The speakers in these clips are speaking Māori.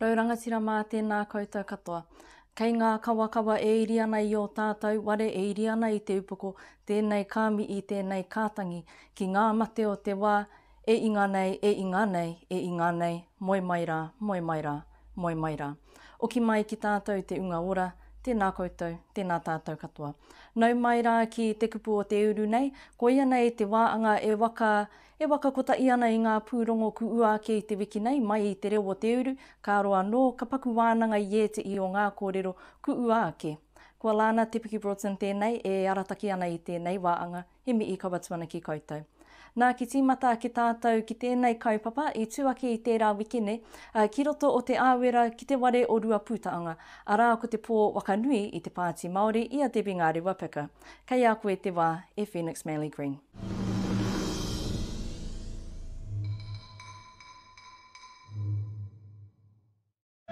Rau rangatira mā tēnā koutou katoa. Kei ngā kawakawa e iri ana i ō tātou ware e iri ana i te upoko tēnei ka mihi tēnei ka tangi ki ngā mate o te wā E inga nei, e inga nei, e inga nei, moe mai rā, moe mai rā, moe mai rā. Oki mai ki tātou te unga ora, tēnā koutou, tēnā tātou katoa. Nau mai rā ki te kupu o te uru nei, koia nei te wā anga e waka, e waka kotahi ana i ngā pūrongo ku ua ake i te wiki nei mai i te reo o te uru, ka roa anō, ka paku wānanga i ētehi o ngā kōrero ku ua ake. Kua Lana Te Piki Broughton tēnei e arataki ana i tēnei wā anga, He mihi kaua tuana ki koutou. Nā, ki tīmata ake tātou ki tēnei kaupapa i tū ake i tērā wiki nei, ki roto o Te Āwera ki te ware o Ruapūtaonga, arā ko te pō waka nui i te Pāti Māori i a Debbie Ngāri Wapeka. Kei a koe te wā, e Phoenix Manly Green.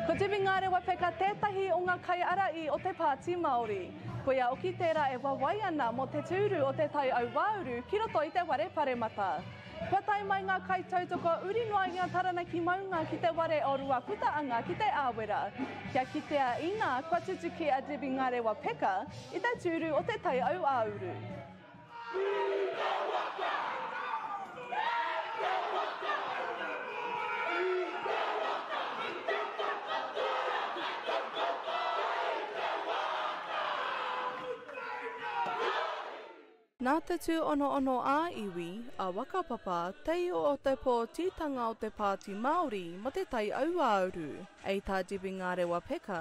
Ko Debbie Ngarewa Peka tētahi o ngā kaiāraī o te Pāti Māori. Ko ia oki tērā e wawae ana mō te tūru o Te Tai Auāuru ki roto i te ware paremata. Kua tae mai ngā kaitautoko uri noa i a Taranaki Maunga ki te ware o Ruaputaanga ki Te Āwera, kia kitea inā kua tutuki a Debbie Ngarewa Peka i te tūru o Te Tai Auāuru. Nā te tūonoono ā-iwi, a Wakapapa, te io o te pōtitanga o te Pāti Māori mō te Tai Auāuru, ei tā Debbie Ngarewa Peka,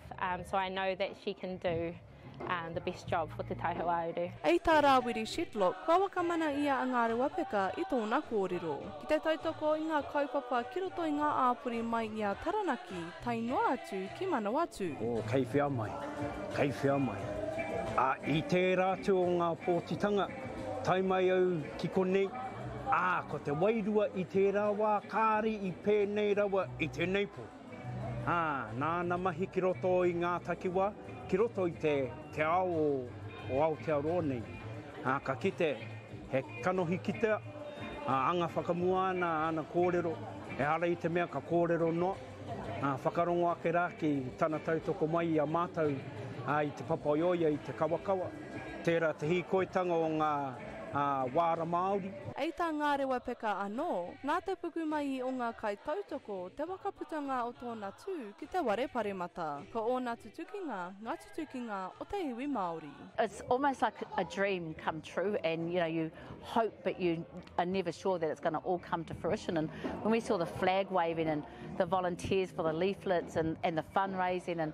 Um, so I know that she can do um, the best job for Te Tai Hauāuru. Hei tā Rāwiri Shedlock, kua wakamana ia a Ngāre Wapeka i tōna kōrero. Ki te tautoko i ngā kaupapa ki roto i ngā āpori mai i a Taranaki, tae noa atu ki Manawatū. O, kei whea mai, kei whea mai. A, i tērā atu o ngā pōtitanga, tae mai au ki konei, ā, ko te wairua i tērā wā kāri i pēnei rawa i tēnei pō. Ā, nāna mahi ki roto i ngā takiwā, ki roto i te, te ao o, o Aotearoa nei. Ā, ka kite, he kanohi kitea, ā, anga whakamua ana āna kōrero, ehara i te mea ka kōrero noa, ā, whakarongo ake rā ki tana tautoko mai i a mātou, ā, i te papaioia, i te kawakawa. Tērā te hīkoitanga o ngā wāra Māori. I tā Ngārewapeka anō, nā te pukumaihi o ngā kaitautoko te waka putanga o tōna tū ki te ware paremata. Ko ōna tutukinga ngā tutukinga o te iwi Māori. It's almost like a dream come true and you know you hope but you are never sure that it's going to all come to fruition and when we saw the flag waving and the volunteers for the leaflets and and the fundraising and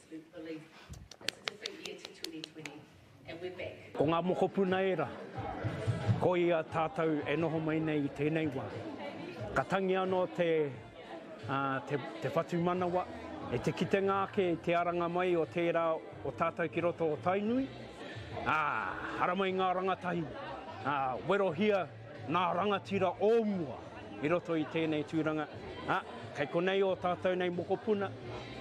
Ko ngā mokopuna ērā, ko ia tātou e noho mai nei i tēnei wā. Ka tangi anō te te whatumanawa e te kitenga ake i te aranga mai o tērā o tātou ki roto o Tainui, ā, haramai ngā rangatahi, ā, werohia, Ngā rangatira o mua i roto i tēnei tūranga, ā, kei konei ō tātou nei mokopuna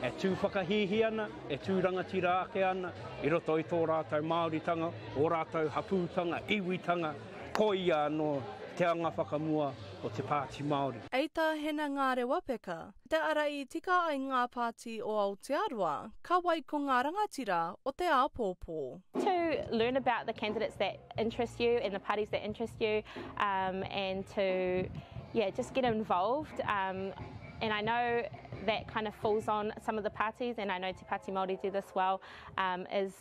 e tū whakahīhī ana, e tū rangatira ake ana i roto i tō rātou Māoritanga, ō rātou hapūtanga, iwitanga, koia anō te anga whakamua o te Pāti Māori. Ei Tāhena Ngārewapeka, Te Ara I tika ai ngā pāti o Aotearoa, ka wai ko ngā rangatira o te āpōpō. To learn about the candidates that interest you and the parties that interest you um and to yeah just get involved um and I know that kind of falls on some of the parties and I know Te Pāti Māori do this well um is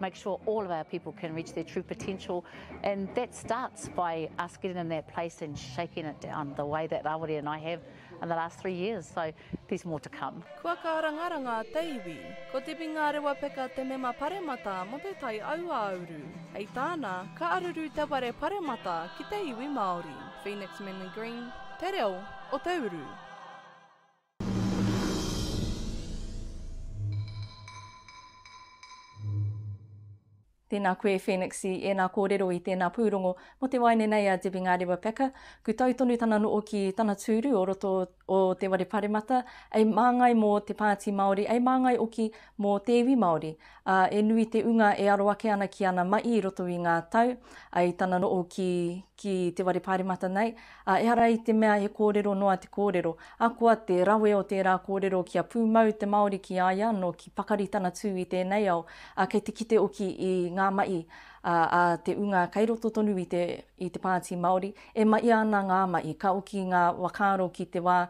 make sure all of our people can reach their true potential. And that starts by us getting in that place and shaking it down the way that Rawiri and I have in the last three years. So there's more to come. Kua kārangaranga a te iwi. Ko Debbie Ngārewa Peka te mema paremata mo te tai auāuru. Hei tāna, ka aruru te ware paremata ki te iwi Māori. Phoenix Manly Green, te reo o te uru. Tēnā koe Phoenix i ēnā kōrero i tēnā pūrongo mō te waeine nei a Debbie Ngarewa Packer. Kutau tonu tana no'o ki tana tūru o roto o Te Ware Paremata, ei māngai mō te Pāti Māori, ei māngai oki mō te iwi Māori. Ā, e nui te unga e aro ake ana ki ana maʻi i roto i ngā tau, ai tana noʻo ki, ki Te Ware Paremata nei, Ā, ehara i te mea he kōrero noa te kōrero, ahakoa te rawe o tērā kōrero kia pūmau te Māori ki a ia anō, ki pakari tana tū i tēnei ao, ā, kei te kite oki i ngā mahi a te ūnga kei roto tonu i te i te Pāti Māori, e mahia ana ngā mahi, ka oki ngā whakaaro ki te wā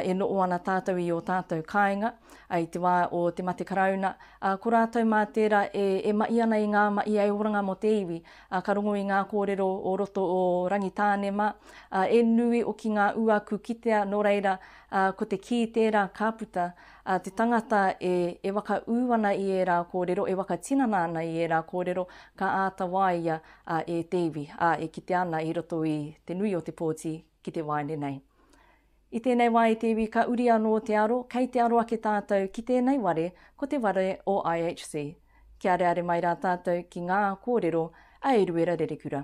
e noho ana tātou i ō tātou kāinga, i te wā o te mate Karauna, ā, ko rātou mā tērā e mahi ana i ngā mahi ē oranga mō te iwi, ā, ka rongo i ngā kōrero o roto o Rangitānema, ā, e nui hoki ngā uaku kitea, nō reira, ā, ko te kī tērā ka puta, ā, te tangata e, e whakaū ana i ērā kōrero, e whakatinana ana i ērā kōrero, ka āta waia, ā, e te iwi, ā, e kitea ana i roto i te nui o te pōti ki te waeine nei. I tēnei wā e te iwi ka uri anō te aro, kei te aro ake tātou ki tēnei ware ko te ware o IHC. Kia areare mai rā tātou ki ngā kōrero a Eruera Rerekura.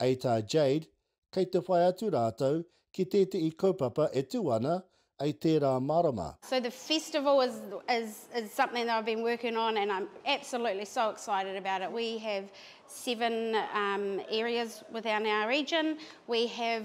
Ei tā Jade, kei te whai atu rātou ki tētehi kaupapa e tū ana ei tērā marama. So the festival is is is something that I've been working on and I'm absolutely so excited about it. We have seven um areas within our region. We have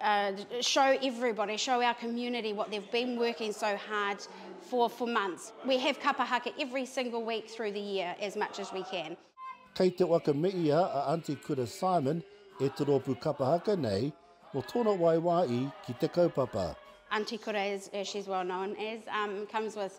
Uh, show everybody, show our community what they've been working so hard for for months. We have kapa haka every single week through the year as much as we can. Kei te waka me ia a Aunty Kura Simon e te rōpū kapa haka nei mo tōna waiwā i ki te kaupapa. Aunty Kura, as, as she's well known as, um, comes with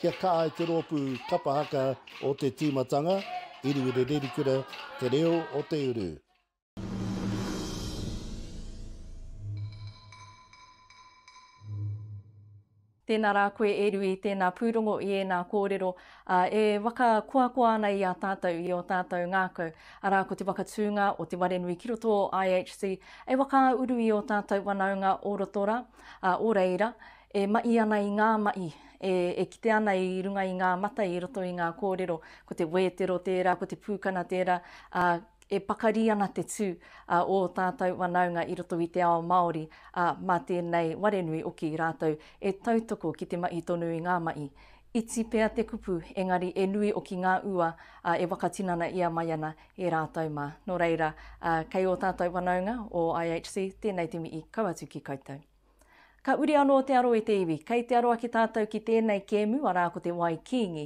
Kia kaha ai te rōpū kapa haka o te tīmatanga, Iriwiri Rerikura, Te Reo o te Uru. Tēnā rā koe e Rui, tēnā pūrongo i ēnā kōrero, ā, e whakakoakoa ana i a tātou, i ō tātou ngākau, arā, ko te whakatūnga o te ware nui ki roto o IHC, e whakauru i ō tātou whanaunga o roto rā, ā, o reira, e maʻi ana i ngā maʻi, e, e kite ana i runga i ngā mata i roto i ngā kōrero, ko te wētero tērā, ko te pūkana tērā, ā, e pakari ana te tū a ō tātou wanaunga i roto i te ao Māori, ā, mā tēnei ware nui oki rātou e tautoko ki te maʻi tonu i ngā maʻi. Iti pea te kupu, engari e nui oki ngā ua, ā, e whakatinana ia mai ana e rātou mā. Nō reira, ā, kei ō tātou wanaunga o IHC, tēnei te mihi kau atu ki koutou. Ka uri anō te aro e te iwi. Kei te aro ake tātou ki tēnei kēmu, arā ko te Wai Kīngi.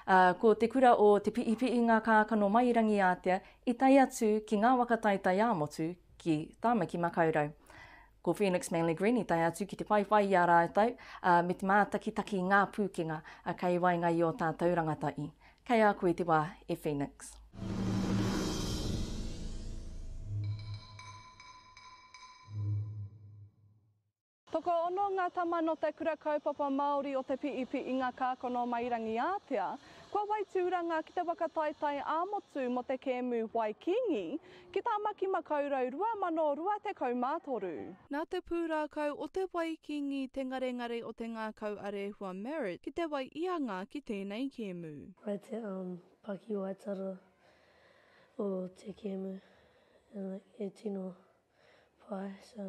Ā, ko te kura o Te Piipiingakākano-mai-i-rangi-ātea i tae atu ki ngā waka taitaiāmotu ki Tāmaki-makau-rau. Ko Phoenix Manly Green i tae atu ki te whaiwhai i a rātou, ā, me te mātakitaki i ngā pūkenga kei waenga i ō tātou rangata i. Kei a koe te wā, e Phoenix. Tokoono ngā tama nō te Kura Kaupapa Māori o Te Piipi i ngā kākano mai Rangiātea. Kua wai tūranga ki te whakataetae ā-motu mō te kēmu Wai Kīngi, Ki Tāmaki Makau Rau 2023. Nā te pūrākau o te wai kīngi te ngarengare o te ngākau a Rehua Merritt ki te wai i anga ki tēnei kēmu. Wai te pakiwaitara o te kēmu e tino pai so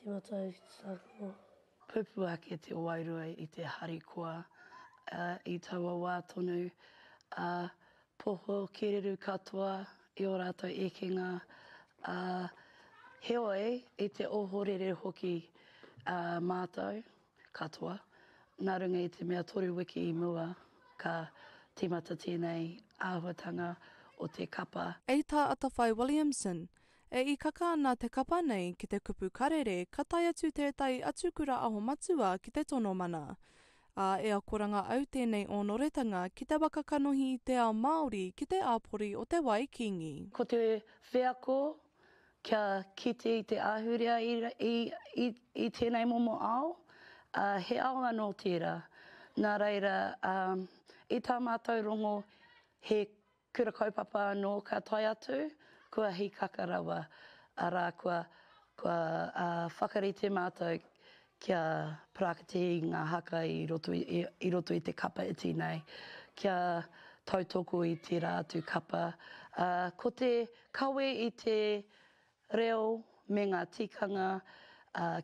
tīmatau ki te tākaro. Pupū ake te wairua i te harikoa, ā, i taua wā tonu, ā, poho kereru katoa i ō rātou ekenga, ā, heoi, i te ohorere hoki ā mātou katoa, nā runga i te mea toru wiki i mua ka tīmata tēnei āhuatanga o te kapa. Hei tā Atawhai Williamson, E ikaka ana te kapa nei ki te kupu karere ka tae atu tētahi atu kura aho matua ki te tono mana. Ā, e akoranga au tēnei ōnoretanga ki te waka kanohi i te ao Māori ki te āpori o Te Wai Kīngi. Ko te wheako kia kite i te ahurea i tēnei momo ao, ā, he ao anō tērā. Nā reira, i tā mātou rongo he Kura kaupapa anō ka tae atu, kua hīkaka rawa, arā, kua, kua whakarite mātou kia practice i ngā haka i roto i, i roto i te kapa iti nei, kia tautoko i tērā atu kapa. Ā, ko te kawe i te Reo me ngā tikanga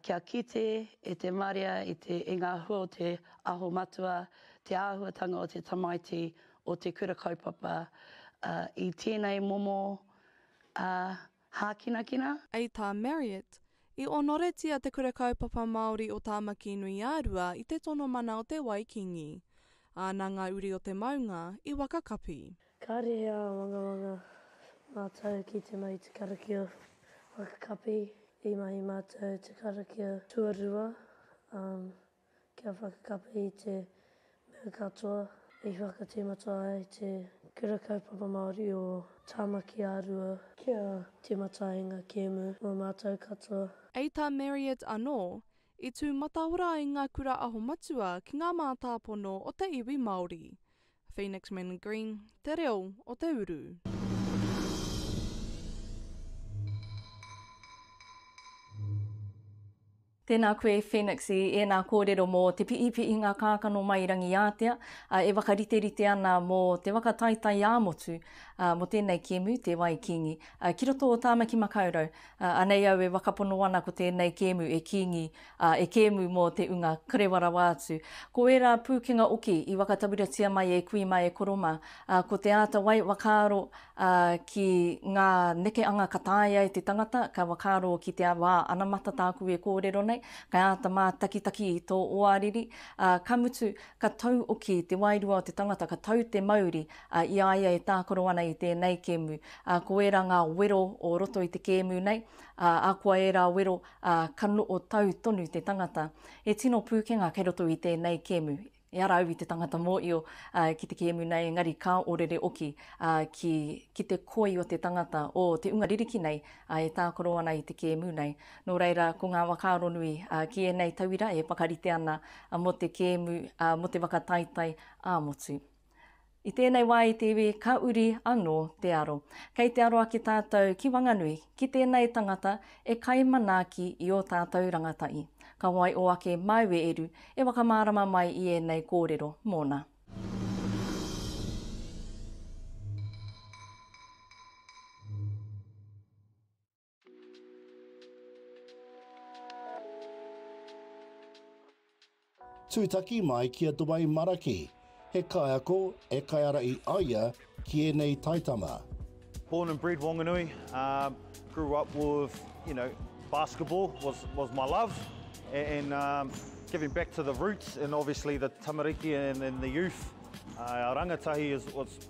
kia kite e te marea i ngā hua o te Aho Matua te āhuatanga o te tamaiti o te Kura Kaupapa i tēnei momo hākinakina. I tā Marriott, i onoretia te Kura Kaupapa Māori o Tāmaki-nui-ā-rua i te tono mana o Te Wai Kīngi, āna ngā uri o te maunga, i Wakakapi. Kāre he āwangawanga mātou ki te mahi te karakia whakakapi. I mahi mātou te karakia tuarua, kia whakakapi i te mea katoa i whakatīmata ai te Kura Kaupapa Māori o Tāmaki ā-Rua kia tīmata ai ngā kēmu mō mātou katoa. I tā Marriott anō, i tū mataora ai ngā Kura Aho Matua ki ngā mātāpono o te iwi Māori. Phoenix Mann Green, Te Reo o te Uru. Tēnā koe Phoenix i ēnā kōrero mō te piipiinga kākano mai Rangiātea e whakariterite ana mō te waka taitai ā-motu mō tēnei kēmu, Te Wai Kīngi. Ki roto o Tāmaki Makaurau, anei au e wakapono ana ko tēnei kēmu e Kīngi ā, e kēmu mō te unga karewa rawa atu. Ko ērā pūkenga oki i whakatawiratia mai e kui mā e koro mā, ā, ko te āta wai whakaaro, ā, ki ngā nekeanga ka taea e te tangata, ka whakaaro ki te wā anamata tāku e kōrero nei, ka āta mātakitaki i tō oāriri, ā, ka mutu, ka tau oki te wairua o te tangata, ka tau te mauri, ā, i a ia e tākaro ana i tēnei kēmu. Ā, ko ērā ngā wero o roto i te kēmu nei, ā, akoa ērā wero, ā, ka noho tau tonu te tangata. He tino pūkenga kei roto i tēnei kēmu. E ara au i te tangata mōio ki te kēmu nei, engari ka orere oki ki, ki te koi o te tangata, o te unga ririki nei e tākaro ana i te kēmu nei. Nō reira, ko ngā whakaaro nui ki ēnei tauira e whakarite ana mō te kēmu, mō te whakataetae ā-motu. I tēnei wā i te iwi ka uri anō te aro. Kei te aro ake tātou ki Wanganui, ki tēnei tangata e kai manaaki i ō tātou rangatahi. Ka waio ake māu e Eru e whakamārama mai i ēnei kōrero mōna. Tūtaki mai ki a Dwayne Maraki, he kaiako e kaiara i aia ki ēnei taitama. Born and bred Wanganui, grew up with you know basketball was was my love and giving back to the roots and obviously the tamariki and the youth, rangatahi is was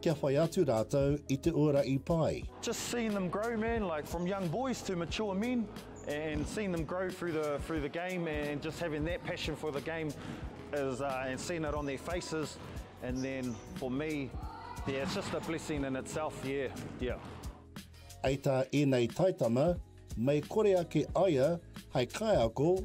Kia whai atu rātou i te ora i pai. Just seen them grow man like from young boys to mature men and seen them grow through the through the game and just having that passion for the game is uh, and seeing it on their faces and then for me yeah it's just a blessing in itself yeah yeah Ai tā ēnei taitama, mei kore ake aia hai kaiako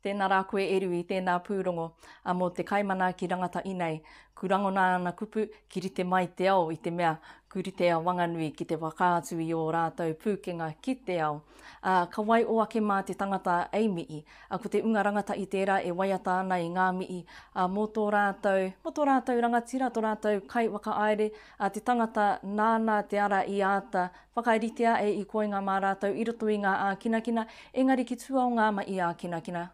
Tēnā rā koe e Rui, tēnā pūrongo a mō te kaimana ki rangata inei. Ku rangona ana kupu ki rite mai te ao i te mea ku rite a Wanganui ki te whakaatu i ō rātou pūkenga ki te ao. Ā, ka wai o ake mā te tangata ei mihi, ā, ko te unga rangatahi tērā e waiata ana i ngā mihi, ā, mō tō rātou, mō tō rātou rangatira, tō rātou kaiwhakaāere, ā, te tangata nāna te ara i āta Whakaritea e i koinga mā rātou i roto i ngā ākinakina, engari ki tua o ngā mahi ākinakina,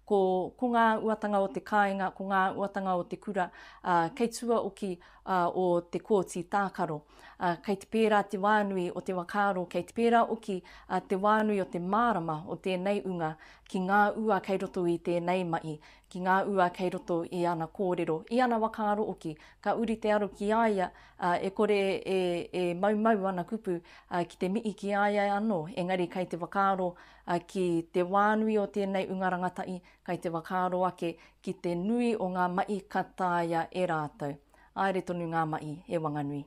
ko, ko ngā uatanga o te kāinga, ko ngā uatanga o te kura, ā, kei tua oki, ā, o te kōti tākaro. Ā, kei te pērā te wānui o te whakaaro, kei te pērā oki, ā, te wānui o te mārama o tēnei unga ki ngā ua kei roto i tēnei mahi, ki ngā ua kei roto i ana kōrero, i ana waka aro oki, ka uri te aro ki a ia, ā, e kore e, e maumau ana kupu, ā, ki te mihi ki a ia anō, engari kei te whakaaro, ā, ki te wā nui o tēnei unga rangatahi, kei te whakaaro ake ki te nui o ngā mahi ka taea e rātou. Haere tonu ngā mahi, e Wanganui.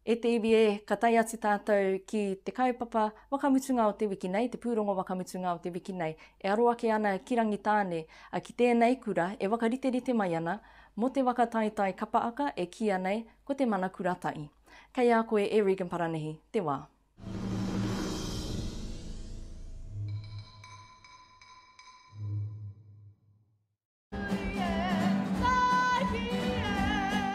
E te iwi e, ka tae atu tātou ki te kaupapa wakamutunga o te wiki nei, te pūrongo wakamutunga o te wiki nei, e aro ake ana ki Rangitāne, ki tēnei kura e whakariterite mai ana mō te waka taetae kapa aka e kīia nei ko te Mana Kura Tahi. Kei a koe e Regan Paranihi te wā.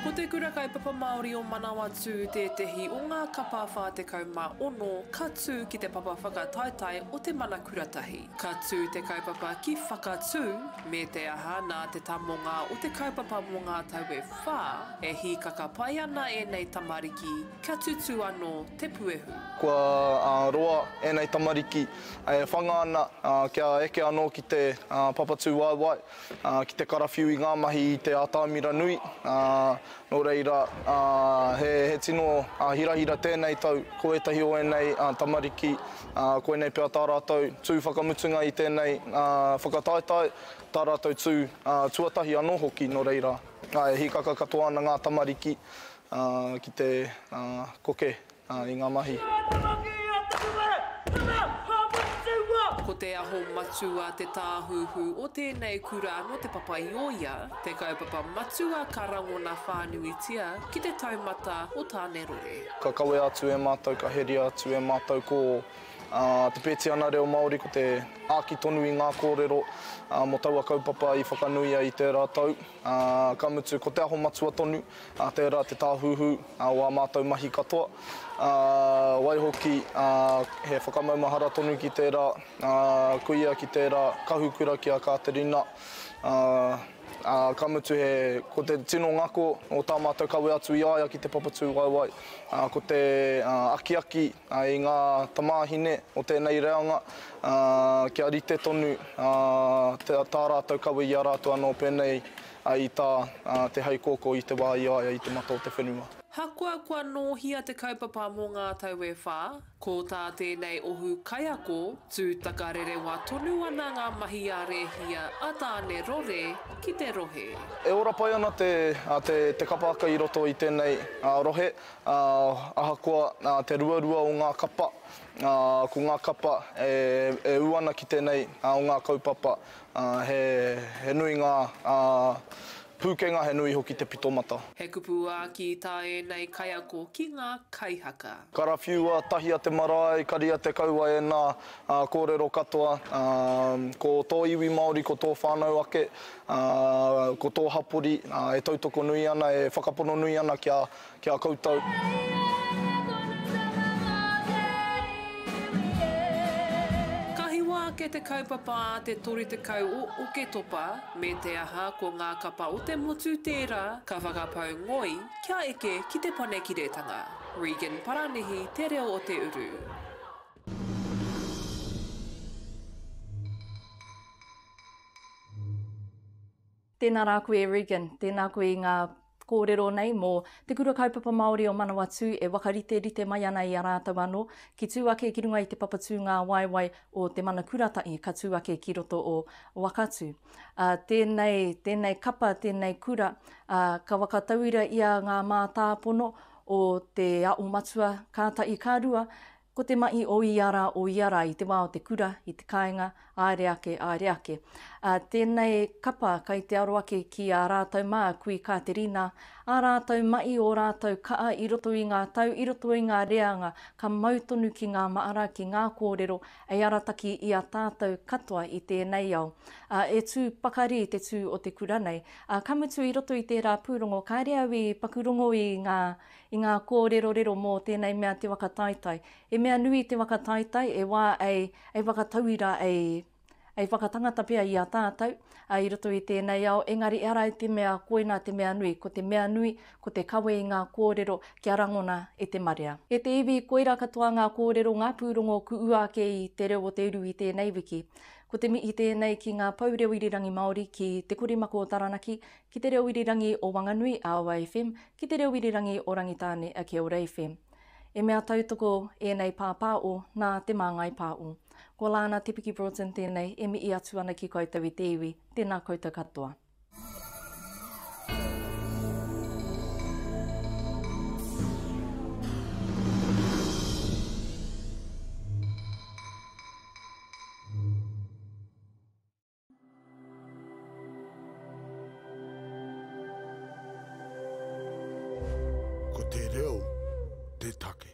Ko te Kura Kaupapa Māori o Manawatū tētehi o ngā kapa 46 ka tū ki te papa whakataetae o Te Mana Kuratahi. Ka tū te kaupapa ki Whakatū, me te aha, nā te tamonga o te kaupapa mō ngā tau e whā, e hīkaka pai ana ēnei tamariki kia tutū anō te puehu. Kua roa ēnei tamariki E whanga ana kia eke anō ki te papatūwaewae, ki te karawhiu i ngā mahi i te ātaimira nui, nō reira, he tino hirahira tēnei tau, ko ētahi o ēnei tamariki, koinei pea tā rātou tū whakamutunga i tēnei whakataetae, tā rātou tū tuatahi anō hoki, nō reira, e hīkaka katoa ana ngā tamariki ki te koke I ngā mahi. Ko te aho matua te tāhuhu o tēnei kura nō Te Papa-i-ōia, te kaupapa matua ka rangona whānuitia ki te taumata o Tānerore. Ka kawea atu e mātou, ka heria atu e mātou ko Te Pētiana Reo Māori, ko te āki tonu i ngā kōrero mō taua kaupapa i whakanuia i tērā tau. Ā, ka mutu, ko Te Aho Matua tonu, ā, tērā te tāhuhu o ā mātou mahi katoa, ā, waihoki, ā, he whakamaumahara tonu ki tērā, ā, kuia ki tērā, kahukura ki a Kāterina, ā, ā, ka mutu he, ko te tino ngako o tā mātou kawe atu i a ia ki te Papatūwaewae, ā, ko te, ā, akiaki, ā, i ngā tamāhine o tēnei reanga, Ā, kia rite tonu, ā, tā, tā rātou kawe i a rātou anō pēnei, ā, i tā, ā, te hei kōkō i te wā i a ia i te mata o te whenua. Hakoa kua nōhia te kaupapa mō ngā tau e whā, ko tā tēnei ohu kaiako, tū takarerewa tonu ana ngā mahi a Rēhia a Tāne Rore ki te rohe. E ora pai ana te, ā, te, te kapa aka i roto i tēnei, ā, rohe, ā, ahakoa, ā, te ruarua o ngā kapa, Ā, ko ngā kapa e ū ana ki tēnei o ngā kaupapa, he nui ngā pūkenga, he nui hoki te pitomata. He kupu āki tā ēnei kaiako ki ngā kaihaka. Karawhiua, Tahia te marae, karia te kaua ēnā kōrero katoa. Ko tō iwi Māori, ko tō whānau ake, ko tō hapori e tautoko nui ana, e whakapono nui ana kia Ki a koutou. Ka hiwa ake te kaupapa a te 30 o Oketopa, me te aha ko ngā kapa o te motu tērā ka whakapau ngoi kia eke ki Te Panekiretanga. Regan Paranihi te reo o te uru. Tēnā rā koe e Regan, tēnā koe i ngā kōrero nei mō Te Kura Kaupapa Māori o Manawatū e whakariterite mai ana i a rātou anō ki tū ake ki runga i te papatūngāwaewae o Te Mana Kuratahi ka tū ake ki roto o Wakatū. Ā, tēnei, tēnei kapa, tēnei kura, ā, ka whakatauira i a ngā mātāpono o Te Aomatua, kātahi ka rua, Ko te mahi o ia rā, o ia rā, i te wā o te kura, i te kāinga, āere ake, āere ake. Ā, tēnei kapa kai te aro ake ki ā rātou mā, kui Kāterina, ā rātou mahi, ō rātou kaha i roto i ngā tau, i roto i ngā reanga, ka mau tonu ki ngā māra, ki ngā kōrero, hei arataki i a tātou katoa i tēnei ao. Ā, e tū pakari te tū o te kura nei. Ā, ka mutu i roto i tērā pūrongo, kāre au i paku rongo i ngā, I ngā kōrerorero mō tēnei mea te whakataetae. He mea nui te whakataetae e wā ei, ei whakatauira, ei, ei whakatangata pea i a tātou i roto i tēnei ao, engari e ara i te mea koina te mea nui, ko te mea nui, ko te kawe i ngā kōrero kia rangona e te marea. E te iwi, koira katoa ngā kōrero, ngā pūrongo kuua ake i Te Reo o Te Uru i tēnei wiki. Ko te mihi tēnei ki ngā Pou Reo Irirangi Māori, ki Te Korimako o Taranaki, ki Te Reo Irirangi o Wanganui, ROFM, Ki te reo irirangi o Rangitāne a Keoreiwhe. E mea tautoko ēnei pāpāo nā Te Māngai Pāo. Ko Lana Te Piki Broughton tēnei e mihi atu ana ki koutou i te iwi. Tēnā koutou katoa. Ko te reo te take.